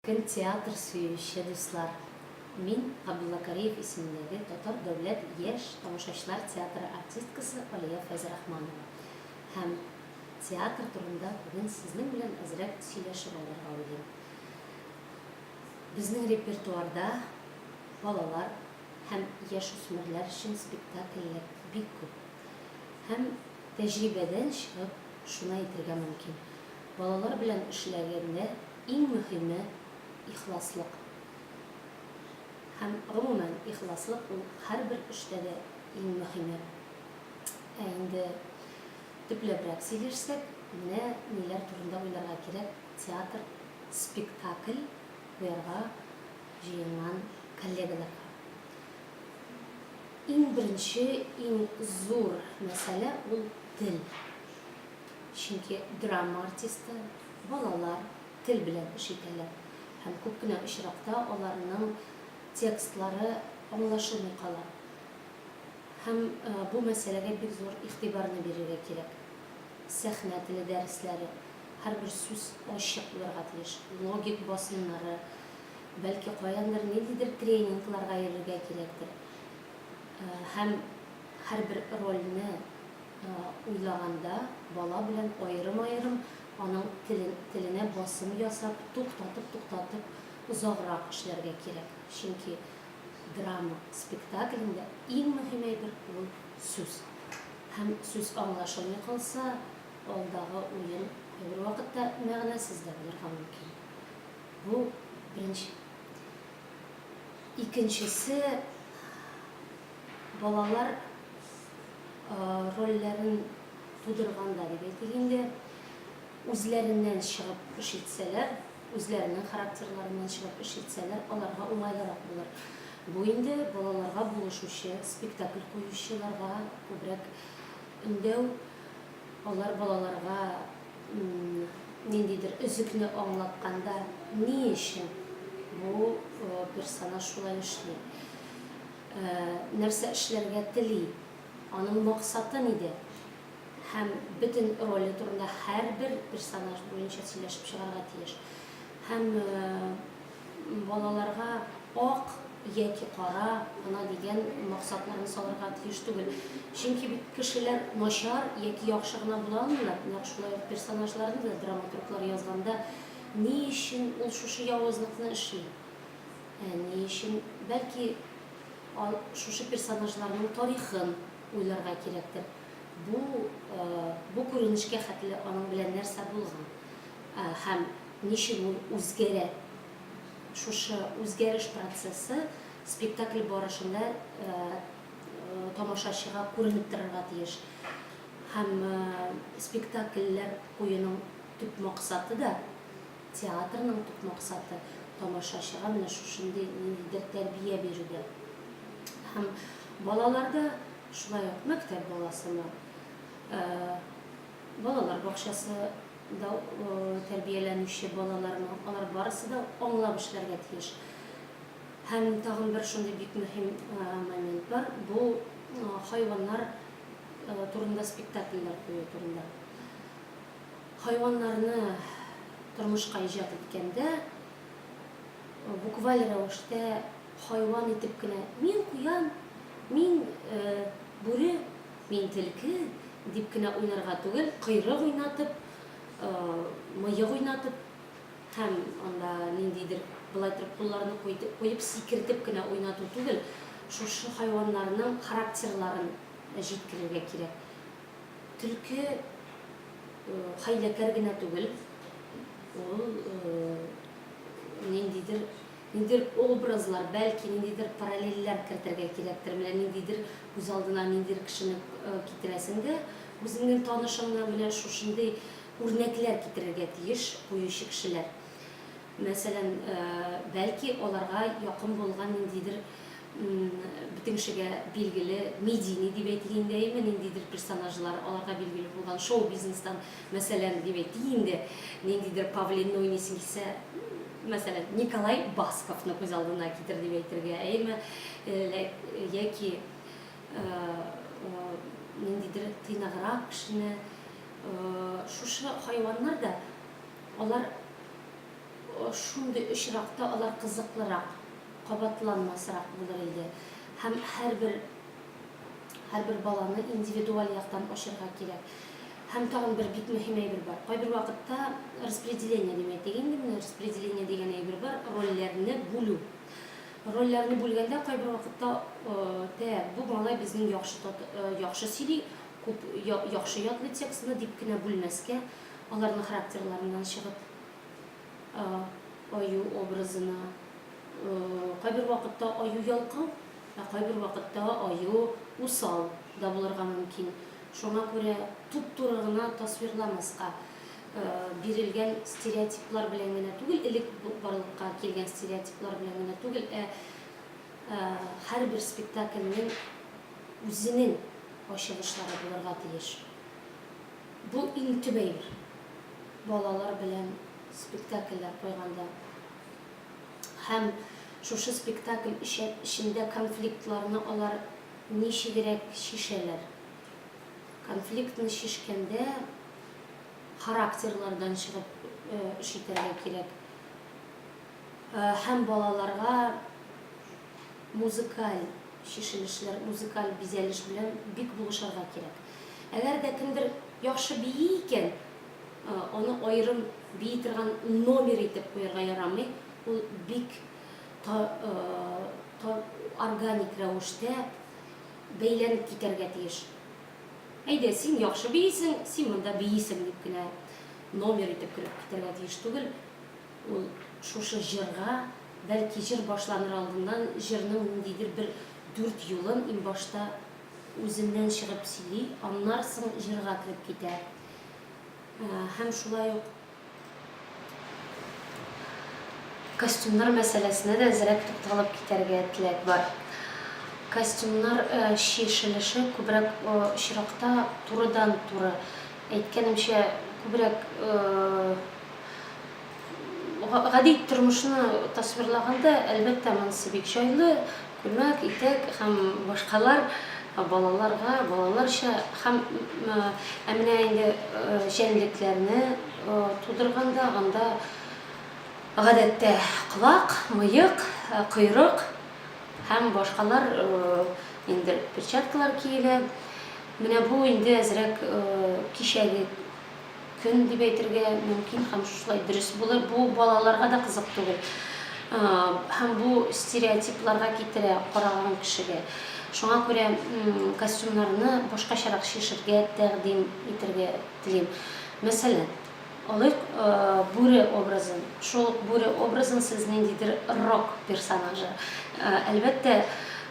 Кем театр сөюче дуслар? Мин Габдулла Кариев исемендәге Татар дәүләт яшь тамашачылар театры артисткасы Алия Фәйзрахманова һәм театр турында бүген сезнең белән әзрәк сөйләшеп алырга уйлыйм. Безнең репертуарда балалар һәм яшүсмерләр өчен спектакльләр бик күп. Һәм тәҗрибәдән чыгып шуны әйтергә мөмкин. Балалар белән эшләгәндә иң мөһиме, ихласлык. Һәм, гомумән, ихласлык ул һәрбер эштә дә иң мөһиме. Ә инде төпләбрәк сөйләшсәк, менә ниләр турында уйларга кирәк театр, спектакль куярга җыенган коллегаларга. Иң беренче, иң зур мәсьәлә ул тел. Чөнки драма артисты, балалар тел белән эш итәләр һәм күп кенә очракта аларның текстлары аңлашылмый кала. Һәм бу мәсьәләгә бик зур игътибарны бирергә кирәк. Сәхнә теле дәресләре, һәрбер сүз ачык булырга тиеш, логик басымнары, бәлки каяндыр ниндидер тренингларга йөрергә кирәктер һәм һәрбер рольне, Уйлаганда, бала белән аерым-аерым аның телен, теленә басым ясап, туктатып-туктатып озаграк эшләргә кирәк. Чөнки драма спектаклендә иң мөһим әйбер ул сүз. Һәм сүз аңлашылмый калса, алдагы уен кайбер вакытта мәгънәсез дә булырга мөмкин. Бу беренче. Икенчесе, балалар рольләрен тудырган да дип әйтик инде, үзләреннән чыгып эш итсәләр, үзләренең характерларыннан чыгып эш итсәләр, аларга уңайлырак булыр. Бу инде балаларга булышучы, спектакль куючыларга күбрәк өндәү, алар балаларга ниндидер өзекне аңлатканда, ни өчен бу персонаж шулай эшли, Нәрсә эшләргә тели, аның максаты нидә һәм бөтен роле турында һәрбер персонаж буенча сөйләшеп чыгарга тиеш. Һәм балаларга ак яки кара гына дигән максатларын салырга тиеш түгел. Чөнки бит кешеләр начар яки яхшы гына була алмыйлар. Нәкъ шулай ук персонажларны да драматурглар язганда ни өчен ул шушы явызлыкны эшли? Ни өчен? Бәлки, ал, шушы персонажларның тарихын уйларга кирәктер. Бу, бу күренешкә хәтле аның белән нәрсә булган? Һәм ничек ул үзгәрә? Шушы үзгәреш процессы спектакль барышында тамашачыга күренеп торырга тиеш. Һәм спектакльләр куюның төп максаты да, Театрның төп максаты, тамашачыга менә шушындый ниндидер тәрбия бирүдә. Һәм балаларда, шулай ук мәктәп баласына, балалар бакчасында тәрбияләнүче балаларына, алар барысы да аңлап эшләргә тиеш. Һәм тагын бер шундый бик мөһим момент бар, бу хайваннар турында спектакльләр кую турында. Хайваннарны тормышка иҗат иткәндә, букваль рәвештә хайван итеп кенә, мин куян, мин бүре, мин телке, дип кенә уйнарга түгел, койрык уйнатып, мыек уйнатып һәм анда ниндидер болай торып кулларны куеп сикертеп кенә уйнату түгел, шушы хайваннарның характерларын җиткерергә кирәк. Төлке хәйләкәр генә түгел, ул ниндидер, ниндидер образлар, бәлки ниндидер параллельләр кертергә кирәктер, менә ниндидер күз алдына ниндидер кешене китерәсең дә, үзеңнең танышыңнан менә шушындый үрнәкләр китерергә тиеш куючы кешеләр. Мәсәлән, бәлки аларга якын булган ниндидер бөтен кешегә билгеле медийный дип әйтик инде, әйеме, ниндидер персонажлар, аларга билгеле булган шоу-бизнестан, мәсәлән, дип әйтик инде, ниндидер павлин, ну, исең китсә, мәсәлән, Николай Басковны күз алдына китер дип әйтергә, әйеме, яки ниндидер тыйнаграк кешене, шушы хайваннар да. Алар шундый очракта алар кызыклырак, кабатланмасрак булыр иде. Һәм һәрбер һәрбер баланы индивидуаль яктан ачырга кирәк. Һәм тагын бер бик мөһим әйбер бар. Кайбер вакытта распределение дим әйтик инде, менә распределение дигән әйбер бар, рольләрне бүлү. Рольләрне бүлгәндә кайбер вакытта тә бу малай безнең яхшы яхшы сөйли, күп яхшы ятлый текстны дип кенә бүлмәскә, Аларның характерларыннан чыгып, аю образына, кайбер вакытта аю ялкау, ә кайбер вакытта аю усал да булырга мөмкин. Шуңа күрә туп-туры гына тасвирламаска, бирелгән стереотиплар белән генә түгел, элек барлыкка килгән стереотиплар белән генә түгел, ә һәрбер спектакльнең үзенең ачылышлары булырга тиеш. Бу иң төп әйбер. Балалар белән спектакльләр куйганда һәм шушы спектакль эчендә конфликтларны алар ничегрәк чишәләр? Конфликтны чишкәндә характерлардан чыгып эш итәргә кирәк. һәм балаларга музыкаль чишелешләр, музыкаль бизәлеш белән бик булышырга кирәк. Әгәр дә кемдер яхшы бии икән, аны аерым бии торган номер итеп куярга ярамый, ул бик органик рәвештә бәйләнеп китәргә тиеш. Әйдә, син яхшы биисең, син монда биисең, дип кенә номер итеп кереп китәргә тиеш түгел. Ул шушы җырга, бәлки, җыр башланыр алдыннан җырның ниндидер бер дүрт юлын иң башта үзеннән чыгып сөйли, аннар соң җырга кереп китә. Һәм шулай ук костюмнар мәсьәләсенә дә әзрәк тукталып китәргә теләк бар. Костюмнар чишелеше күбрәк очракта турыдан-туры, әйткәнемчә, күбрәк Гади тормышны тасвирлаганда, әлбәттә, монысы бик җайлы, күлмәк, итәк һәм башкалар балаларга балаларча һәм ә менә инде җәнлекләрне тудырганда, анда гадәттә колак, мыек, койрык һәм башкалар инде перчаткалар киелә. Менә бу инде әзрәк кичәге Көн дип әйтергә мөмкин һәм шулай дөрес булыр. Бу балаларга да кызык түгел. Һәм бу стереотипларга китерә караган кешегә. Шуңа күрә костюмнарны башкачарак чишергә тәкъдим итергә телим. Мәсәлән, алыйк бүре образын. Шул ук бүре образын сез ниндидер рок персонажы. Әлбәттә,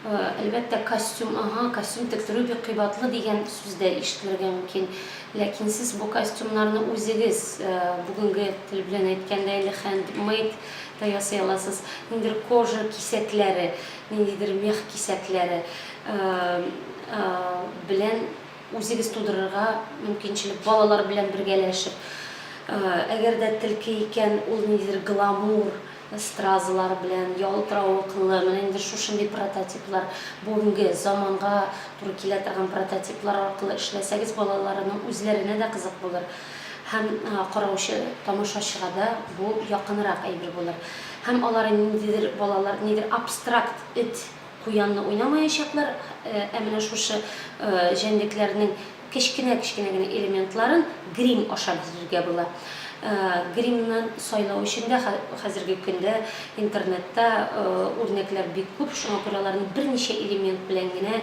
Әлбәттә, костюм, аһа, костюм тектерү бик кыйбатлы дигән сүз дә ишетелергә мөмкин. Ләкин сез бу костюмнарны үзегез, бүгенге тел белән әйткәндә инде хәндмейд та ясый аласыз. Ниндидер кожа кисәкләре, ниндидер мех кисәкләре белән үзегез тудырырга мөмкинчелек, балалар белән бергәләшеп. Әгәр дә телке икән, ул ниндидер гламур. Стразалар белән, ялтыравыклы, менә инде шушындый прототиплар, бүгенге заманга туры килә торган прототиплар аркылы эшләсәгез, балаларның үзләренә дә кызык булыр һәм караучы, тамашачыга да бу якынрак әйбер булыр. Һәм алар ниндидер, балалар нидер абстракт эт, куянны уйнамаячаклар, ә менә шушы җәнлекләрнең Кечкенә-кечкенә генә элементларын грим аша бизүгә була. Гримны сайлау өчен дә хәзерге көндә интернетта үрнәкләр бик күп, шуңа күрә аларны берничә элемент белән генә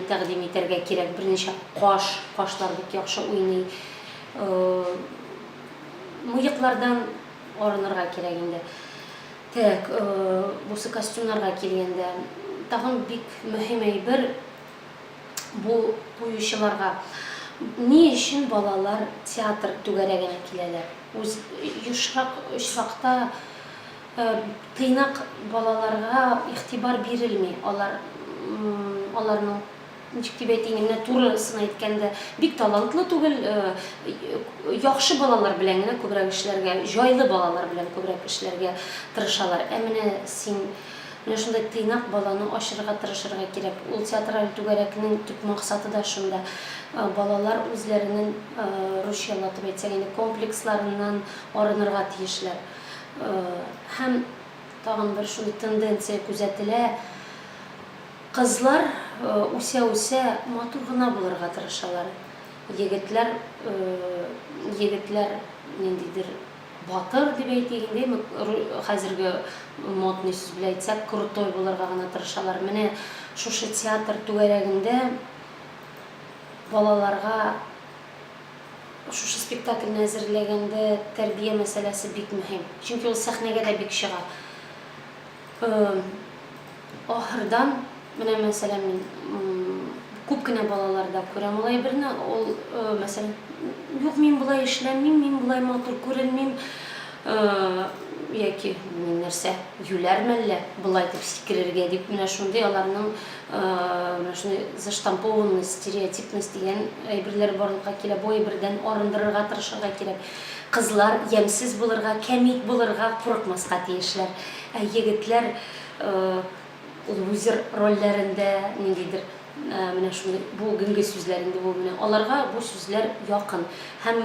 тәкъдим итәргә кирәк. Берничә каш, кашлар бик яхшы уйный. Мыеклардан арынырга кирәк инде. Так, бусы костюмнарга килгәндә, тагын бик мөһим әйбер, бу куючыларга ни өчен балалар театр түгәрәгенә киләләр? Үз ешрак очракта тыйнак балаларга игътибар бирелми, алар аларның, ничек дип әйтим, менә турысын әйткәндә, бик талантлы түгел, яхшы балалар белән генә күбрәк эшләргә, җайлы балалар белән күбрәк эшләргә тырышалар. Ә менә син Менә шундый тыйнак баланы ачырырга тырышырга кирәк. Ул театраль түгәрәкнең төп максаты да шунда. Балалар үзләренең, русчалатып әйтсәк инде, комплексларыннан арынырга тиешләр. Һәм тагын бер шундый тенденция күзәтелә, кызлар үсә-үсә матур гына булырга тырышалар. Егетләр, егетләр ниндидер. Батыр дип әйтик инде, хәзерге модный сүз белән әйтсәк, крутой булырга гына тырышалар. Менә шушы театр түгәрәгендә балаларга шушы спектакльне әзерләгәндә тәрбия мәсьәләсе бик мөһим. Чөнки ул сәхнәгә дә бик чыга. Ахырдан, менә мәсәлән, мин күп кенә балаларда күрәм ул әйберне, ул, мәсәлән, юк, мин болай эшләмим, мин болай матур күренмим, яки мин нәрсә, юләр мәллә, болай дип сикерергә дип, менә шундый аларның менә шундый заштампованность, стереотипность дигән әйберләр барлыкка килә, бу әйбердән арындырырга тырышырга кирәк. Кызлар ямьсез булырга, кәмит булырга, курыкмаска тиешләр. Ә егетләр лузер рольләрендә, ниндидер менә шундый бу генге сүзләр инде бу менә. Аларга бу сүзләр якын. Һәм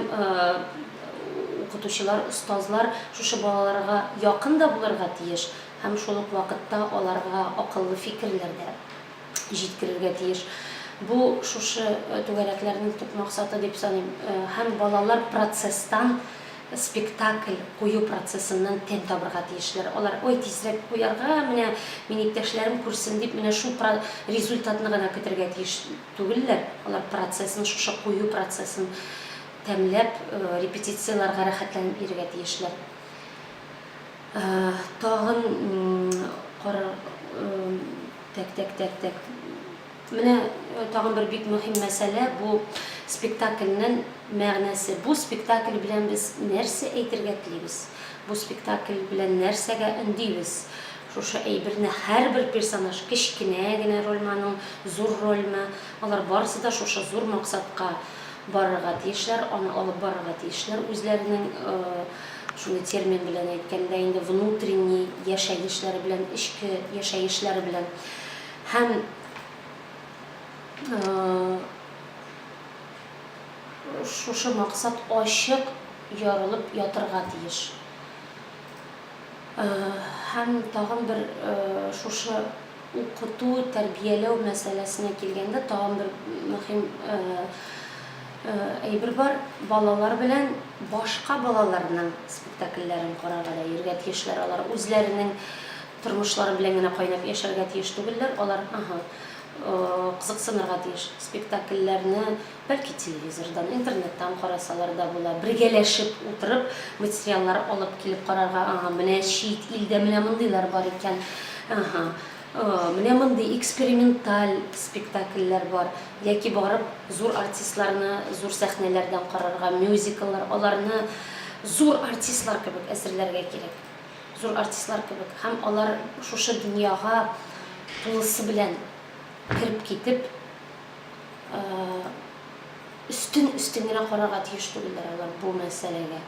укытучылар, остазлар шушы балаларга якын да булырга тиеш һәм шул ук вакытта аларга акыллы фикерләр дә җиткерергә тиеш. Бу шушы түгәрәкләрнең төп максаты дип саныйм. Һәм балалар процесстан, спектакль кую процессыннан тәм табырга тиешләр. Алар, ой, тизрәк куярга, менә мин иптәшләрем күрсен дип, менә шул про результатны гына көтәргә тиеш түгелләр. Алар процессны, шушы кую процессын тәмләп, репетицияләргә рәхәтләнеп йөрергә тиешләр. Тагын карар тәк тәк тәк тәк Менә тагын бер бик мөһим мәсьәлә, бу спектакльнең мәгънәсе. Бу спектакль белән без нәрсә әйтергә телибез? Бу спектакль белән нәрсәгә өндибез? Шушы әйберне һәрбер персонаж, кечкенә генә рольманың, зур рольмы, алар барысы да шушы зур максатка барырга тиешләр, аны алып барырга тиешләр үзләренең Шуны термин белән әйткәндә инде внутренний яшәгешләре белән, эчке яшәгешләре белән һәм шушы максат ачык ярылып ятырга тиеш. Һәм тагын бер шушы Укыту, тәрбияләү мәсьәләсенә килгәндә, тагын бер мөһим әйбер бар, балалар белән башка балаларның спектакльләрен карарга да йөрергә тиешләр. Алар үзләренең тормышлары белән генә кайнап яшәргә тиеш түгелләр, алар, аһ, кызыксынырга тиеш, спектакльләрне. Бәлки телевизордан, интернеттан карасалар да була. Бергәләшеп утырып материаллар алып килеп карарга, ага, менә чит илдә менә мондыйлар бар икән, ага, менә мондый эксперименталь спектакльләр бар, яки барып зур артистларны зур сәхнәләрдән карарга, мюзикллар, аларны зур артистлар кебек әзерләргә кирәк. Зур артистлар кебек. Һәм алар шушы дөньяга тулысы белән кереп китеп, өстен өстен генә карарга тиеш түгелдер алар бу мәсьәләгә.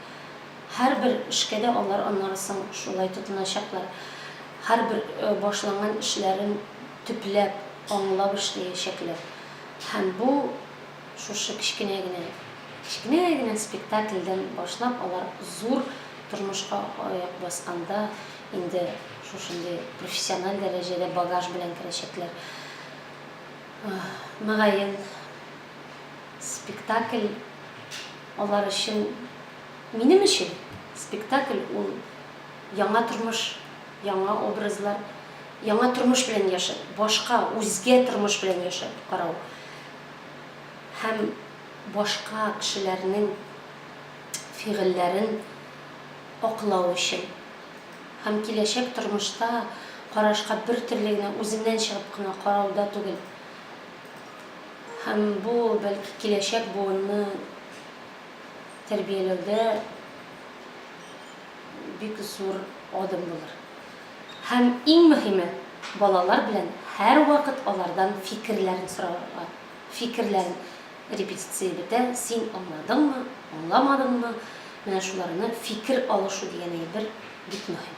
Һәрбер эшкә дә алар аннары соң шулай тотыначаклар. Һәрбер башланган эшләрен төпләп, аңлап эшләячәкләр. Һәм бу шушы кечкенә генә, кечкенә генә спектакльдән башлап, алар зур тормышка аяк басканда инде шушындый профессиональ дәрәҗәдә багаж белән керәчәкләр. Мөгаен, спектакль алар өчен, минем өчен спектакль ул яңа тормыш, яңа образлар, яңа тормыш белән яшәп, башка, үзгә тормыш белән яшәп карау һәм башка кешеләрнең фигыльләрен аклау өчен. һәм киләчәк тормышта карашка бертөрле генә үзеннән чыгып кына карауда түгел. Һәм бу, бәлки, киләчәк буынны тәрбияләүдә бик зур адым булыр. Һәм иң мөһиме, балалар белән һәрвакыт алардан фикерләрен сорарга, фикерләрен. Репетиция бетә, син аңладыңмы, аңламадыңмы, менә шуларны фикер алышу дигән әйбер бик мөһим.